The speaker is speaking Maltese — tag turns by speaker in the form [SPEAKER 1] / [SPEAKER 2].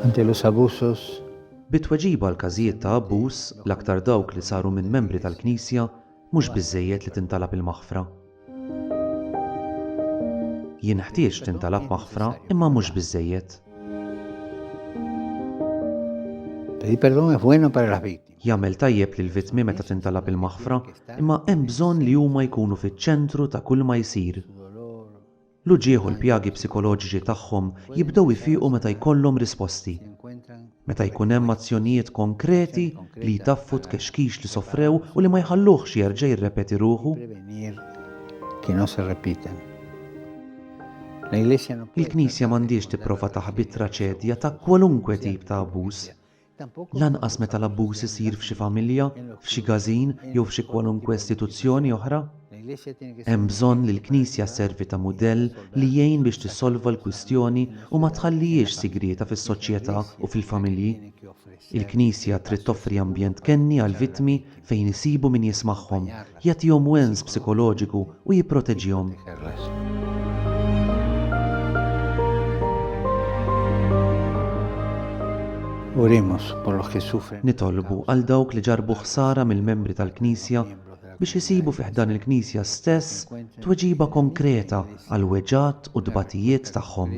[SPEAKER 1] Antilus abusus. Bi tweġiba għal każijiet ta' abbuż, l-aktar dawk li saru minn membri tal-Knisja, mhux biżżejjed li tintalab il-maħfra. Jenħtieġ tintalab maħfra imma mhux biżżejjed. Pedir perdón es bueno para las víctimas. Jagħmel tajjeb lill-vittmi meta tintalab il-maħfra, imma hemm bżonn li huma jkunu fiċ-ċentru ta' kulma jsir. L-uġigħ u l-pjagi psikoloġiċi tagħhom jibdew ifiqu meta jkollhom risposti. Meta jkun hemm azzjonijiet konkreti li jtaffu t-tkexkix li sofrew u li ma jħalluhx jerġa' jirrepeti ruħu. Il-Knisja m'għandhiex tipprova taħbi t-traċedja ta' kwalunkwe tip ta' abbuż, Lanqas meta l-abbuż isir f'xi familja, f'xi gażin jew f'xi kwalunkwe istituzzjoni oħra. Hemm bżonn li l-Knisja sservi ta' mudell li jgħin biex tissolva l-kwistjoni u ma tħallihiex sigrieta fis-soċjetà u fil-familji. Il-Knisja trid toffri ambjent kenni għall-vittmi fejn isibu min jismagħhom, jagħtihom wens psikoloġiku u jipproteġihom. Nitolbu għal dawk li ġarrbu ħsara mill-membri tal-Knisja biex isibu fi ħdan il-Knisja stess tweġiba konkreta għall-weġgħat u t-tbatijiet tagħhom.